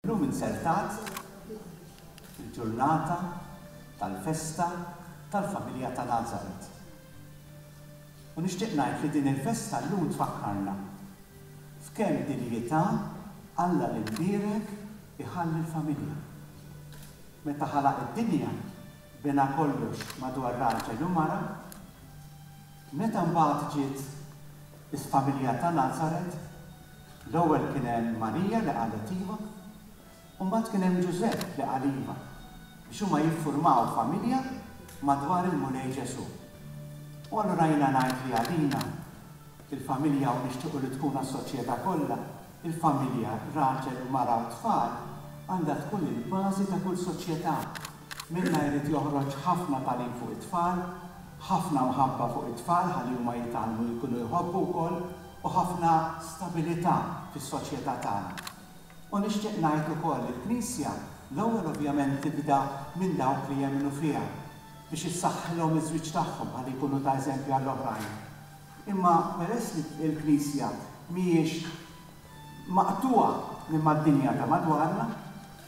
Illum inzertat fil-ġurnata tal-festa tal-familja ta' Nazaret. U nixtieq ngħid li din il-festa llum tfakkarna f'kemm dinjità Alla l-Imbierek iħalli l-familja. Meta ħalaq id-dinja bena kollox madwar raġel u mara, Meta mbagħad ġiet il-familja ta' Nazaret, l-ewwel kien hemm Marija li qalet iva, u mbagħad kien hemm Ġużepp li qal iva biex huma jiffurmaw familja madwar il-Mulej Ġesù. U allura jiena ngħid li għalina, il-familja u nixtiequ li tkun għas-soċjetà kollha, Il-familja, raġel u mara u tfal, għandha tkun il-bażi ta' kull soċjetà. Minnha jrid joħroġ ħafna tagħlim fuq it-tfal, ħafna mħabba fuq it-tfal ħalli huma jitgħallmu jkunu jħobbu wkoll u ħafna stabilità fis-soċjetà tagħna. U nixtieq ngħid ukoll li l-Knisja l-ewwel ovvjament tibda minn dawk li jemmnu fiha biex issaħħilhom iż-żwieġ tagħhom ħalli jkunu ta' eżempju għall-oħrajn. Imma peress li l-Knisja mhijiex maqtugħa minn mad-dinja ta' madwarna,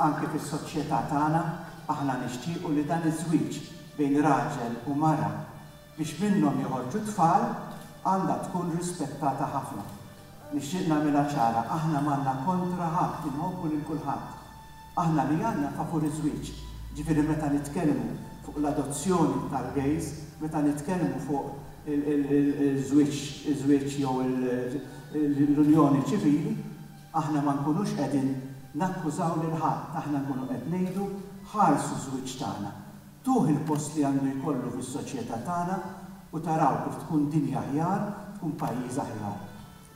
anke fis-soċjetà tagħna aħna nixtiequ li dan iż-żwieġ bejn raġel u mara biex minnhom joħorġu t-tfal għandha tkun rispettata ħafna. Nixtieq nagħmilha ċara, aħna m'għandna kontra ħadd, inħobbu lil kulħadd. Aħna li għandna favur iż-żwieġ, ġifieri meta nitkellmu fuq l-adozzjoni tal-gays, meta nitkellmu fuq iż-żwieġ jew l-unjoni ċivili, aħna ma nkunux qegħdin nakkużaw lil ħadd, aħna nkunu qed ngħidu ħarsu ż-żwieġ tagħna, tuh il-post li għandu jkollu fis-soċjetà tagħna u taraw kif tkun dinja aħjar, tkun pajjiż aħjar.